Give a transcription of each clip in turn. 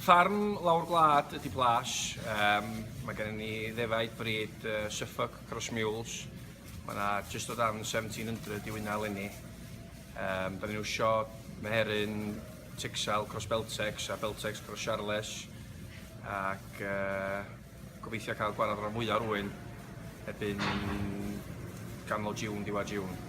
Ffarm lawr gwlad ydy Plas. Um, mae gennym ni ddefaid bryd uh, Suffolk Cross Mules. Mae yna just o dan 1700 i wyna lenni. Um, da ni'n wsio meheryn Texel Cross Beltex a Beltex Cross Charles. Ac uh, gobeithio cael gwarad rhan fwyaf rwy'n ebyn ganol June, diwedd June.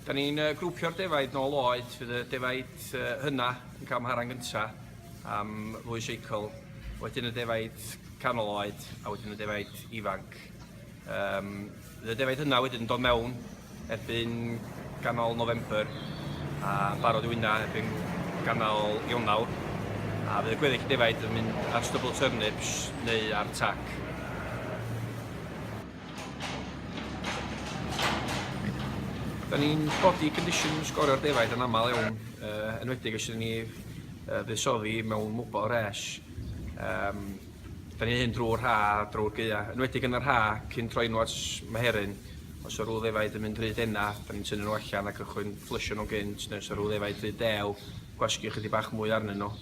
Da ni'n uh, grwpio'r defaid nôl oed, fydd y defaid uh, hynna yn cael mharan gyntaf am ddwy seicl, wedyn y defaid canol oed a wedyn y defaid ifanc. Um, y defaid hynna wedyn yn dod mewn erbyn ganol November a barod i wyna erbyn ganol Ionawr a fydd y gweddill defaid yn mynd ar stubble turnips neu ar tac. Da ni'n body condition sgorio'r defaid yn aml iawn, uh, enwedig os ydyn ni uh, fusoddi mewn mwbol res. Um, da ni'n hyn drwy'r rha, drwy'r gyda. Enwedig yn yr rha, cyn troi nhw at meheryn, os o'r rhyw ddefaid yn mynd rhyd enna, da ni'n tynnu nhw allan ac ychwyn fflysio nhw gynt, neu os o'r rhyw ddefaid rhyd dew, gwasgu ychydig bach mwy arnyn nhw.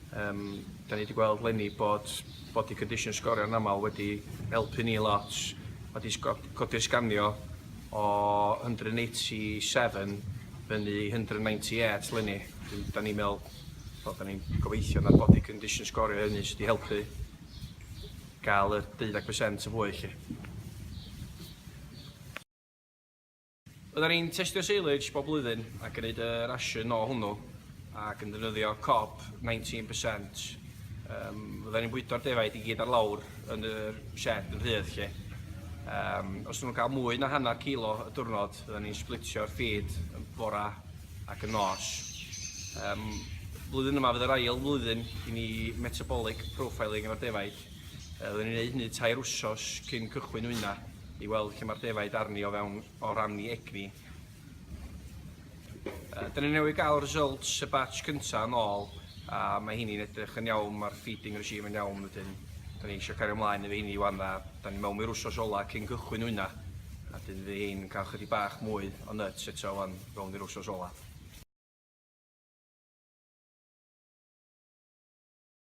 Yym da ni di gweld leni bod bod y condition sgorio yn aml wedi helpu ni lot a di codi'r sganio o 187 fyny i 198 leni. Wedyn da ni'n meddwl wel da ni'n gobeithio na'r body condition sgorio hynny sydd wedi helpu gael y deuddeg percent yn fwy lly. Oeddan ni'n testio silage bob blwyddyn ac yn gwneud y rasiwn o hwnnw ac yn defnyddio cob 19%. Um, oeddan ni'n bwydo'r defaid i gyd ar lawr yn y shed yn rhydd lle. Um, os nhw'n cael mwy na hanner kilo y diwrnod, oeddan ni'n splitio'r ffid yn bora ac yn nos. Um, blwyddyn yma fydd yr ail flwyddyn i ni metabolic profiling efo'r defaid. Oedden ni'n gwneud hynny tair wsos cyn cychwyn wyna. i weld lle mae'r defaid arni o fewn o ran ni egni. Uh, Dyna ni newydd gael results y batch cyntaf yn ôl a mae hynny'n edrych yn iawn, mae'r feeding regime yn iawn wedyn. Da ni eisiau cario ymlaen efo hynny wan a da ni mewn i'r wsos ola cyn cychwyn hwnna. A dyn fi hyn yn cael chydig bach mwy o nuts eto wan fewn i'r wsos ola.